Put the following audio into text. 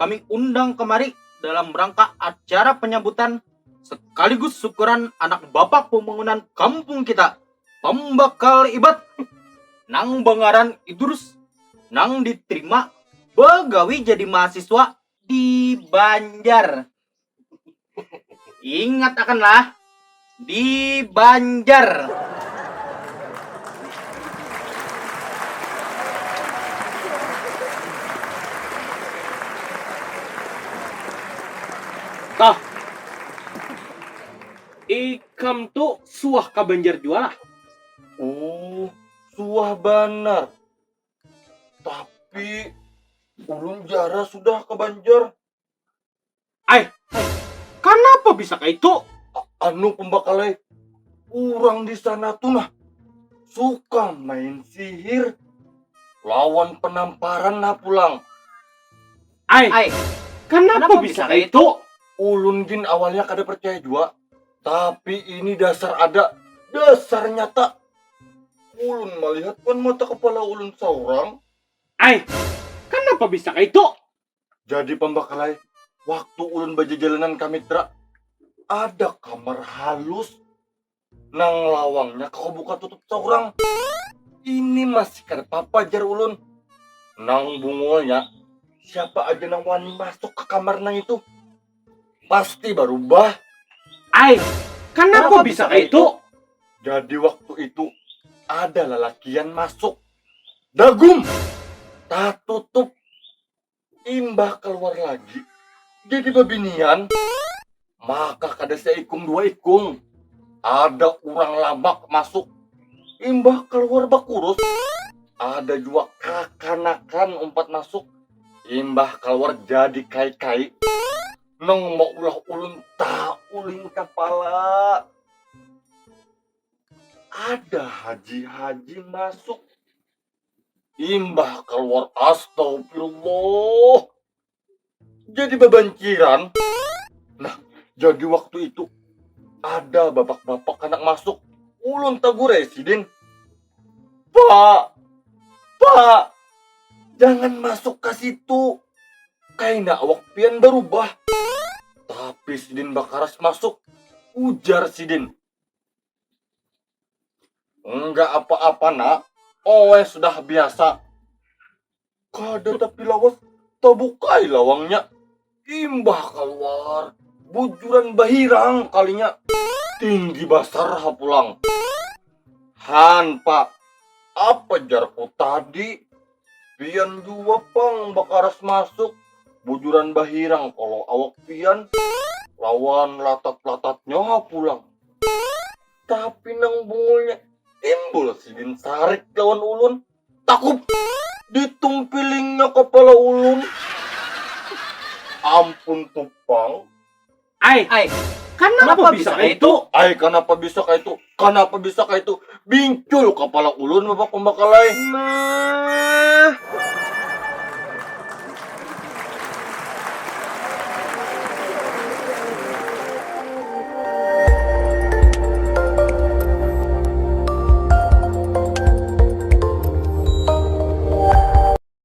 kami undang kemari dalam rangka acara penyambutan sekaligus syukuran anak bapak pembangunan kampung kita, pembakal ibat, nang bangaran Idrus, nang diterima bagawi jadi mahasiswa di Banjar. Ingat akanlah di Banjar. Toh, ikam tu suah ka Banjar jua lah? Oh, suah banar. Tapi, ulun jarang sudah ka Banjar. Ai, ai, kanapa bisa kaitu? Anu pembakal ai, urang di sana tu nah suka main sihir lawan penamparan nah pulang. Ai, ai, kanapa, kanapa bisa kaitu? Ulun gin awalnya kada percaya jua, tapi ini dasar ada, dasar nyata. Ulun melihat wan mata kepala ulun seorang. Ai, kanapa bisa kaitu? Jadi pambakalai, waktu ulun bajajalanan ka Mitra, ada kamar halus nang lawangnya kawa buka tutup saurang. Ini masih kada papa jar ulun. Nang bungulnya, siapa aja nang wani masuk ka kamar nang itu, pasti barubah. Ai, kanapa bisa kaitu? Jadi waktu itu ada lalakian masuk. Dagum tatutup imbah kaluar lagi jadi babinian maka kada saikung dua ikung ada urang lamak masuk imbah kaluar bakurus ada jua kakanakan umpat masuk imbah kaluar jadi kai-kai nang maulah ulun tauling kapala. ada haji-haji masuk imbah keluar astagfirullah jadi babanciran nah jadi waktu itu ada bapak-bapak anak masuk ulun tagur ya sidin pak pak jangan masuk ke situ kaina awak pian berubah tapi sidin bakaras masuk ujar sidin Enggak apa-apa nak, oe sudah biasa. Kada tapi lawas, tabukai lawangnya. Imbah kaluar, bujuran bahirang kalinya. Tinggi basar ha pulang. Han pak, apa jarku tadi? Pian jua pang bakaras masuk, bujuran bahirang kalo awak pian lawan latat-latatnya ha pulang. Tapi nang bungulnya timbul sidin sarik lawan ulun, takup! Ditumpilingnya kapala ulun. Ampun tu pang. Ai, ai, kanapa bisa kaya itu? Ai, kanapa bisa kaya itu? Kanapa bisa kaya itu? Bingcul kapala ulun Bapak Pambakalai. Nah.